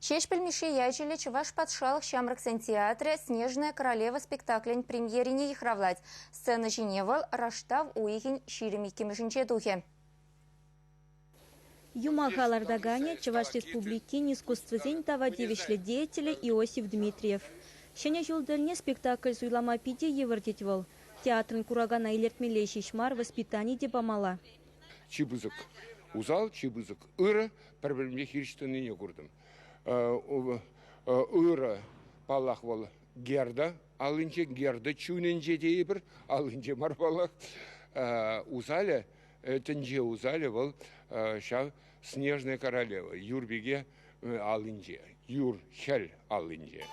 Ҫеҫпӗл Мишши ячӗллӗ Чӑваш патшалӑх ҫамрӑксен театрӗ «Снежная королева» спектаклӗн премьерине йыхравлать. Сцена ҫине вӑл раштав уйӑхӗн ҫирӗм иккӗмӗшӗнче тухӗ. Юмаха лартаканӗ Чӑваш Республикин искусствӑсен тава тивӗҫлӗ деятелӗ Иосиф Дмитриев. Ҫӗнӗ ҫул тӗлне спектакль суйлама питӗ йывӑр тет вӑл. Театрӑн куракана илӗртмелле ҫеҫ мар, воспитани те памалла. чи пысӑк усал, чи пысӑк ырӑ, пӗр-пӗрне хирӗҫ тӑнине куртӑм. Ырӑ, паллах, вӑл Герда аллинче, Герда чунӗнче тейӗпӗр, аллинче мар паллах. Усалӗ, тӗнче усалӗ вӑл ҫав Снежная королева юр пике аллинче, юр хӗл аллинче.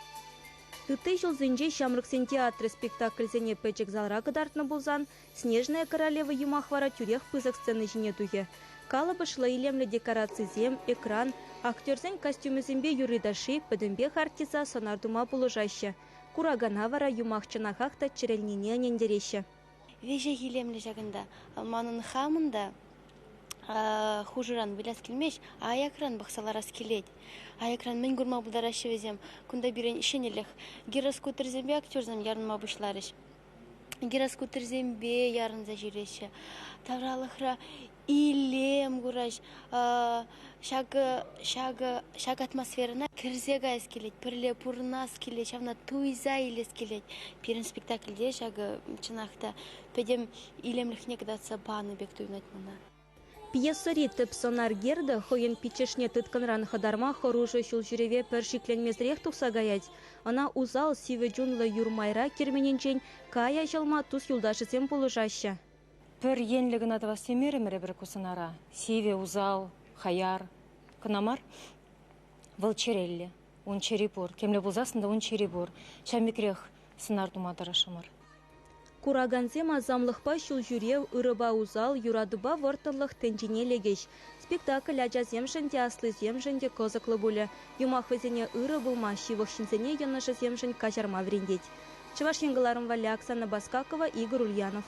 Ытти ҫулсенче Ҫамрӑксен театрӗ спектакльсене пӗчӗк залра кӑтартнӑ пулсан Снежная королева юмах вара тӳрех пысӑк сцена ҫине тухӗ. Калӑпӑшлӑ илемлӗ декорацисем, экран, актерсен костюмӗсемпе юрри-ташши пӗтӗмпех артиста сӑнар тума пулӑшаҫҫӗ. Куракана вара юмах чӑнахах та чӗрӗлнине ӗнентереҫҫӗ. Виҫӗ илемлӗ ҫакӑнта. Манӑн хамӑн та хушӑран выляс килмест, аякран пӑхса ларас килет. Аякран мӗн курма пултараҫҫӗ вӗсем? Кунта пирӗн ҫӗнӗлӗх. Гироскутерсемпе актерсем ярӑнма пуҫларӗҫ. Гироскутерсемпе ярӑнса ҫӳреҫҫӗ. Тавралӑхра Илем курать. Ҫакӑ ҫакӑ ҫак атмосферӑна кӗрсе каяс килет, пӗрле пурӑнас килет, ҫавна туйса илес килет. Пирӗн спектакльте ҫакӑ чӑнах та пӗтӗм илемлӗхне кӑтартса панӑ пек туйӑнать мана. Пьесӑри тӗп сӑнар гердӑ хӑйӗн пиччӗшне тыткӑнран хӑтарма хӑрушӑ ҫулҫӳреве пӗр шикленмесӗрех тухса каять. Ӑна усал сивӗ чунлӑ юр майра керменӗнчен Кая ҫӑлма тус-юлташӗсем пулӑшаҫҫӗ. Пӗр енлӗ кӑна тӑвас темерӗмӗр эпир ку сӑнара. Сивӗ, усал, хаяр. Кӑна мар, вӑл чӗреллӗ. Ун чӗри пур. Темле пулсассӑн та ун чӗри пур. Ҫав микрех сӑнар тума тӑрӑшрӑмӑр. Куракансем асамлӑхпа ҫулҫӳрев, ырӑпа усал, юратупа вӑрттӑнлӑх тӗнчине лекӗҫ. Спектакль ачасемшӗн те, аслисемшӗн те кӑсӑклӑ пулӗ. Юмах вӗсене ырӑ пулма, ҫывӑх ҫынсене йӑнӑшӗсемшӗн каҫарма вӗрентет. Чӑваш Ен кӑларӑм валли Оксана Баскакова, Игорь Ульянов.